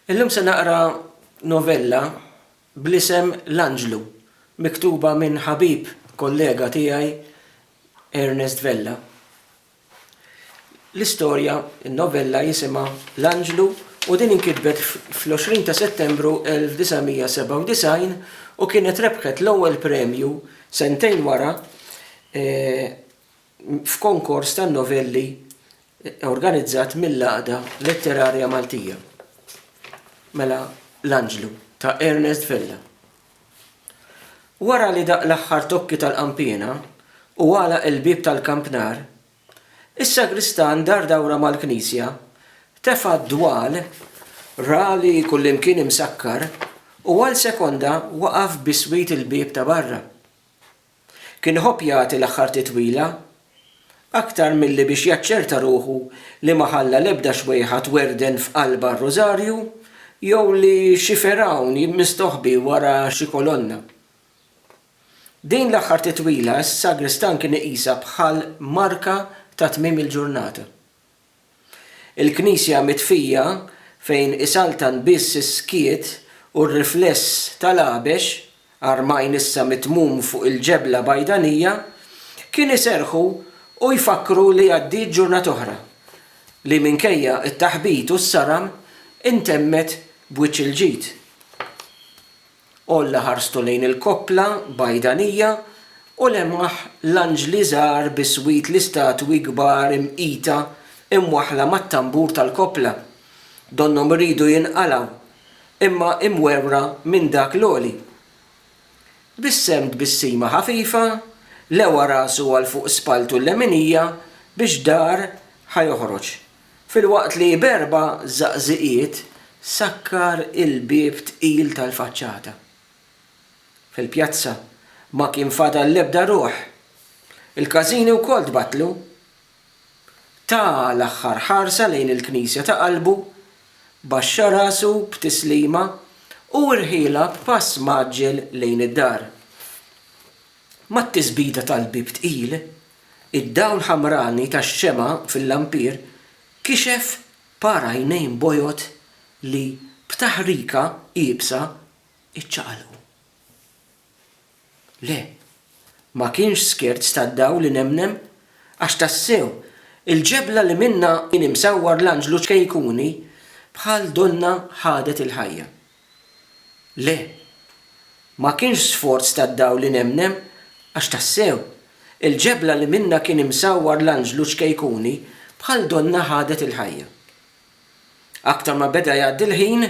Illum se naqra novella bl-isem L-Anġlu, miktuba minn ħabib kollega tiegħi Ernest Vella. L-istorja, in-novella jisimha L-Anġlu u din inkitbet fl-20 ta' Settembru 1997 u kienet rebħet l-ewwel premju sentejn wara f'konkors tan-novelli organizzat mill-Għaqda Letterarja Maltija. Mela L-Anġlu ta' Ernest Vella. Wara li daqq l-aħħar tokki tal-qanpiena u għalaq il-bieb tal-kampnar, is-sagristan dar dawra mal-knisja, tefa' d-dwal rali kullimkien imsakkar u għal sekonda waqaf biswit il-bieb ta' barra. Kien iħobb jagħti l-aħħar titwila, aktar milli biex jaċċerta ruħu li ma ħalla l-ebda xwejħa twerwden f'qalbha r-Rużarju jew li xi fergħun mistoħbi wara xi kolonna. Din l-aħħar titwila s-sagristan kien iqisha bħal marka ta' tmiem il-ġurnata. Il-Knisja mitfija fejn isaltan biss is-skiet u r-rifless tal-għabex, għarmajn issa mitmum fuq il-ġebla bajdanija, kien iserrħu u jfakkru li għaddiet ġurnata oħra, li minkejja t-taħbit u s-saram intemmet b'wiċċ il-ġid. Għolla ħarstu lejn il-koppla bajdanija u lemaħ l-anġli żgħar biswit l-istatwi kbar imqita imwaħħla mat-tanbur tal-koppla. Donnhom iridu jinqalgħu, imma imwerwra minn dak l-għoli. Bissem tbissima ħafifa, lewa rasu għal fuq spalltu l-leminija biex dar ħa joħroġ. Filwaqt li b'erba' żaqżiqiet sakkar il-bieb tqil tal-faċċata. Fil-pjazza ma kien fadal l-ebda ruħ. Il-każini wkoll tbattlu. Ta l-aħħar ħarsa lejn il-knisja ta' qalbu, baxxa rasu b'tislima u rħielha b'pass mgħaġġel lejn id-dar. Mat-tisbita tal-bieb tqil, Id-dawl ħamrani tax-xemgħa fil-lampier kixef par għajnejn bojod li b'taħrika iebsa ċċaqalqu. Le, ma kienx scherz tad-dawl inemnem, għax tassew, il-ġebla li minnha kien imsawwar l-anġlu ċkejkuni bħal donnha ħadet il-ħajja. Le, ma kienx sforz tad-dawl li nemmnem, għax tassew, il-ġebla li minnha kien imsawwar l-anġlu ċkejkuni bħal donnha ħadet il-ħajja. Aktar ma beda jgħaddi l-ħin,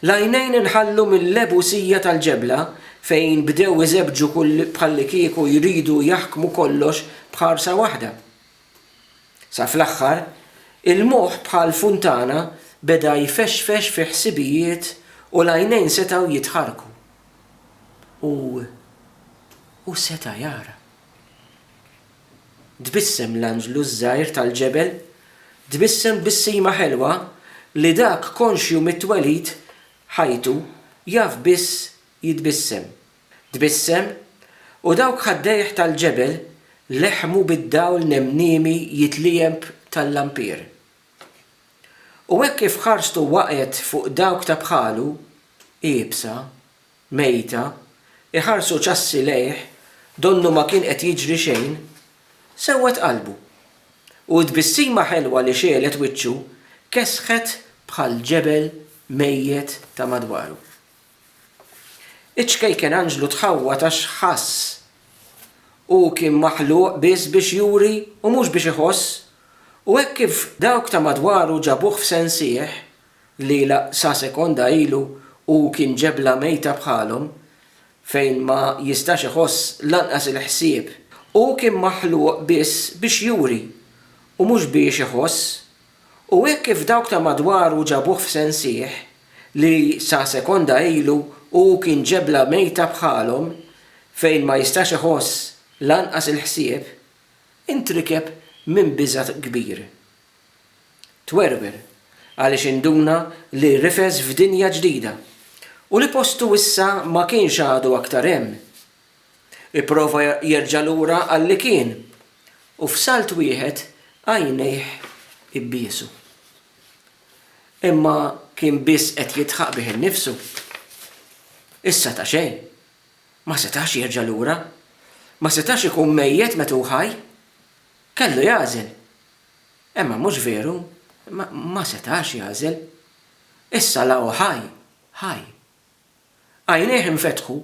l-għajnejn inħallu mil-lebusija tal-ġebla fejn bdew iżebbġu bħallikieku jridu jaħkmu kollox b'ħarsa waħda. Sa fl-aħħar, il-moħħ bħal funtana beda jfexfex fi ħsibijiet u l-għajnejn setgħu jitħarrku. U hu seta' jara. Tbissem l-anġlu ż-żgħir tal-ġebel, tbissem tbissima ħelwa li dak konxju mit-twelid ħajtu jaf biss jitbissem. Tbissem, u dawk ħaddejh tal-ġebel leħmu bid-dawl nemniemi jitliegħeb tal-lampier. U hekk kif ħarstu waqgħet fuq dawk ta' bħalu, iebsa, mejta, iħarsu ċassi lejh donnu ma kien qed jiġri xejn, sewwet qalbu. U t-tbissima ħelwa li xegħlet wiċċu kesħet bħal ġebel mejjet ta' madwaru. Iċ-ċkejken anġlu tħawwad għax ħass. Hu kien maħluq biss biex juri u mhux biex iħoss. U hekk kif dawk ta' madwaru ġabuh f'sensih li la sa sekonda ilu hu kien ġebla mejta bħalhom, fejn ma jistax iħoss lanqas il-ħsieb, hu kien maħluq biss biex juri u mhux biex iħoss. U hekk kif dawk ta' madwaru ġabuh f'sensih, li sa sekonda ilu hu kien ġebla mejta bħalhom, fejn ma jistax iħoss lanqas il-ħsieb, intrikeb minn biża' kbir. Twerwer għaliex induna li rifes f'dinja ġdida, u li postu issa ma kienx għadu aktar hemm, Ipprova jerġa' lura għalli kien, u f'salt wieħed għajnejh ibbiesu. Imma kien biss qed jidħaq bih innifsu. Issa ta' xejn. Ma setax jerġa' lura. Ma setax ikun mejjet meta hu ħaj. Kellu jagħżel. Imma mhux veru, ma setax jagħżel. Issa la hu ħaj, ħaj. Għajnejh infetħu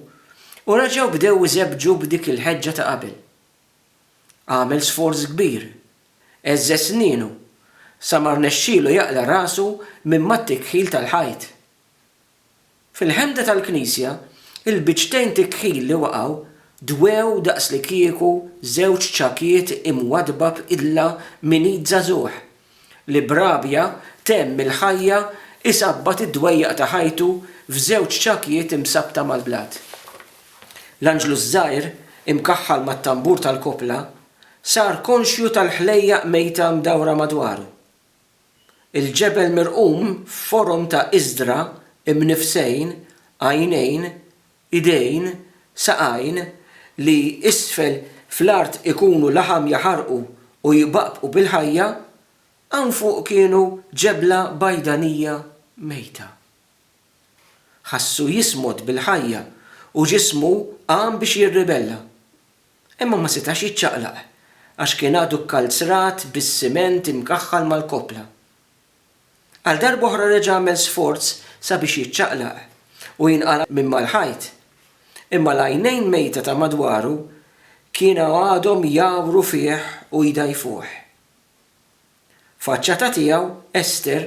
u reġgħu bdew iżebbġu b'dik il-ħeġġa ta' qabel. Għamel sforz kbir, għeżżeż snienu, sa ma rnexxielu jaqla' rasu minn mat-tikħil tal-ħajt. Fil-ħemda tal-knisja, il-biċċtejn tikħil li waqgħu dwew daqslikieku żewġ ċakiet imwaddba b'idla minn id żagħżugħ li b'rabja temm il-ħajja jsabbat id-dwejjaq ta' ħajtu f'żewġ ċakjiet imsabbta mal-blat. L-anġlu ż-żgħir, imkaħħal mat-tambur tal-koppla, sar konxju tal-ħlejjaq mejta mdawra madwaru. Il-ġebel mirqum f'forom ta' iżdra imnifsejn, għajnejn, idejn, saqajn, li isfel fl-art ikunu laħam jaħarqu u jbaqbqu bil-ħajja, hawn fuq kienu ġebla bajdanija mejta. Ħassu jismod bil-ħajja u ġismu qam biex jirribella. Imma ma setax jiċċaqlaq għax kien għadu kkalzrat bis-siment imkaħħal mal-koppla. Għal darb'oħra reġa' għamel sforz sabiex jiċċaqlaq u jinqala' minn mal-ħajt. Imma l-għajnejn mejta ta' madwaru kienu għadhom jgħawru fih u jdgħajfuh. Faċċata tiegħu, Esther,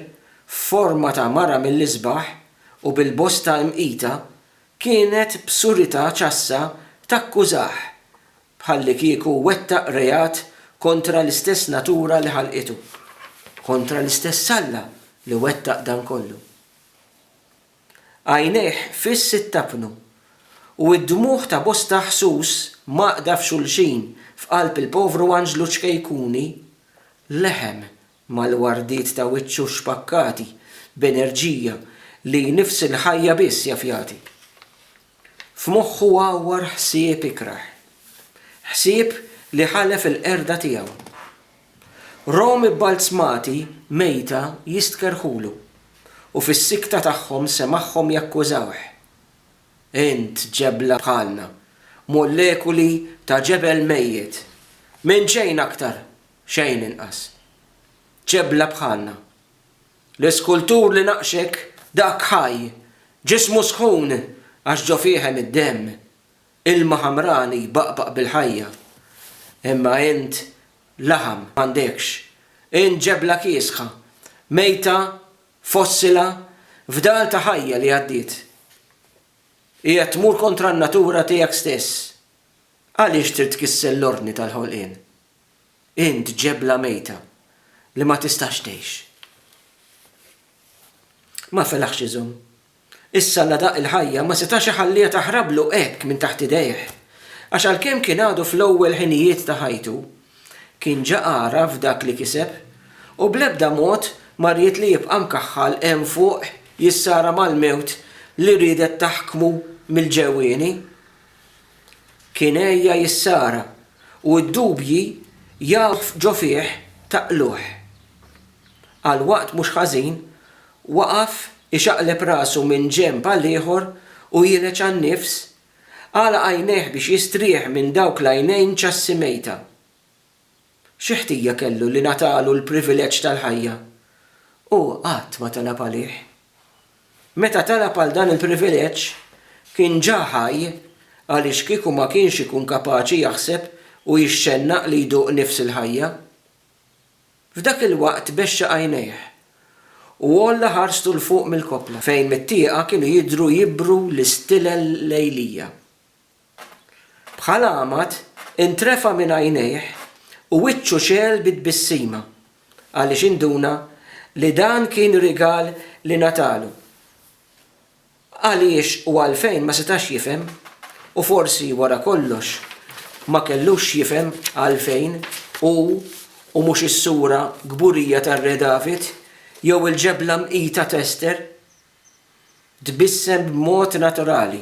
f'forma ta' mara mill-isbaħ u bil-bosta imqita, kienet b'surità ċassa takkużah bħallikieku wettaq reat kontra l-istess natura li ħalqitu, kontra l-istess Alla li wettaq dan kollu. Għajnejh fiss ittapnu, u d-dmugħ ta' bosta ħsus mgħaqqda f'xulxin f'qalb il-povru anġlu ċkejkuni leħen Mal-wardiet ta' wiċċu xpakkati b'enerġija li nifs il-ħajja biss jaf jagħti. F'moħħu għawwar ħsieb ikrah. Ħsieb li ħalef il-qerda tiegħu. Romi bbalzmati mejta jistkerrħulu u fis-sikta tagħhom semagħhom jakkużawh. Int ġebla bħalna, molekuli ta' ġebel mejjet. Minn xejn aktar Xejn inqas. Ġebla bħalna. L-iskultur li naqxek, dak ħaj, ġismu sħun għax ġo fih hemm id-demm, ilma ħamran li jbaqbaq bil-ħajja. Imma int laħam m'għandekx. Int ġebla kiesħa, mejta, fossila, fdal ta' ħajja li għaddiet. Qiegħed tmur kontra n-natura tiegħek stess. Għaliex trid tkisser l-ordni tal-ħolqien? Int ġebla mejta li ma tistax tgħix. Ma felaħx iżomm. Issa la daqq il-ħajja ma setax iħalliha taħrablu hekk minn taħt idejh, għax għalkemm kien għadu fl-ewwel ħinijiet ta' ħajtu, kien ġa għaraf dak li kiseb u bl-ebda mod ma ried li jibqa' mkaħħal hemm fuq jissara mal-mewt li riedet taħkmu mill-ġewwieni. Kien għejja jissara u d-dubji jaf ġo fih taqluh. Għal waqt mhux ħażin, waqaf ixaqleb rasu minn ġenb għal ieħor u jiereġ għan-nifs, għalaq għajnejh biex jistrieħ minn dawk l-għajnejn ċassi mejta. Xi ħtija kellu li ngħatalu l-privileġġ tal-ħajja? Hu qatt ma talab għalih. Meta talab għal dan il-privileġġ, kien ġa ħaj għaliex kieku ma kienx ikun kapaċi jaħseb u jixxennaq li jduq nifs il-ħajja. F'dak il-waqt bexxa għajnejh, u għolla ħarstu 'l fuq mill-koppla fejn mit-tieqa kienu jidhru jibru l-istilel lejlija. Bħal għamad, intrefa' minn għajnejh u wiċċu xegħel bi tbissima, għaliex induna li dan kien rigal li ngħatalu. Għaliex u għalfejn ma setax jifhem, u forsi wara kollox ma kellux x'jifhem għalfejn hu u mhux is-sura kburija tar-Re David jew il-ġebla mqita t'Ester Tbissem b'mod naturali.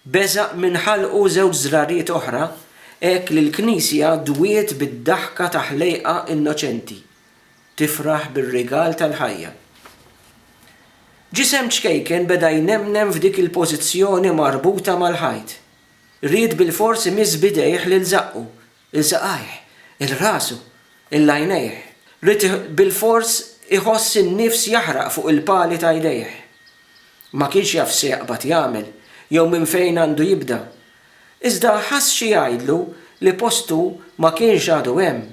Beża' minn ħalqu żewġ żrariet oħra hekk li l-knisja dwiet bid-daħka ta' ħlejqa innoċenti, tifraħ bir-rigal tal-ħajja. Ġisem ċkejken beda jnemnem f'dik il-pożizzjoni marbuta mal-ħajt. Ried bilfors imiss b'idejh lil żaqqu, il-saqajh, il-rasu, il-għajnejh, ried bilfors iħoss in-nifs jaħraq fuq il-pali ta' jdejh. Ma kienx jaf x'se jaqbad jagħmel jew minn fejn għandu jibda. Iżda ħass xi jgħidlu li postu ma kienx għadu hemm.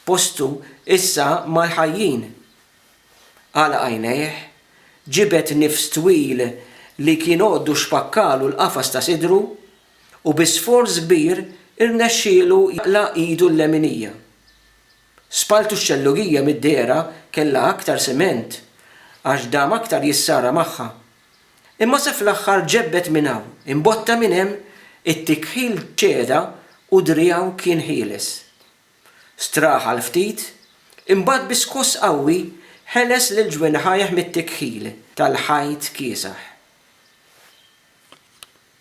Postu issa mal-ħajjin. Għalaq għajnejh, ġibed nifs twil li kien għoddu xpakkalu l-qafas ta' sidru, u bi sforz kbir irnexxielu jaqla' idu l-leminija. Spaltu x-xellugija mid-dehra kellha aktar siment għax dam aktar jissara magħha. Imma se fl-aħħar ġebbed minn hawn, imbotta minn hemm, it-tikħil ċeda u driegħu kien ħieles. Straħ għal ftit, imbagħad bi skoss qawwi ħeles lil ġwinħajh mit-tikħil tal-ħajt kiesaħ.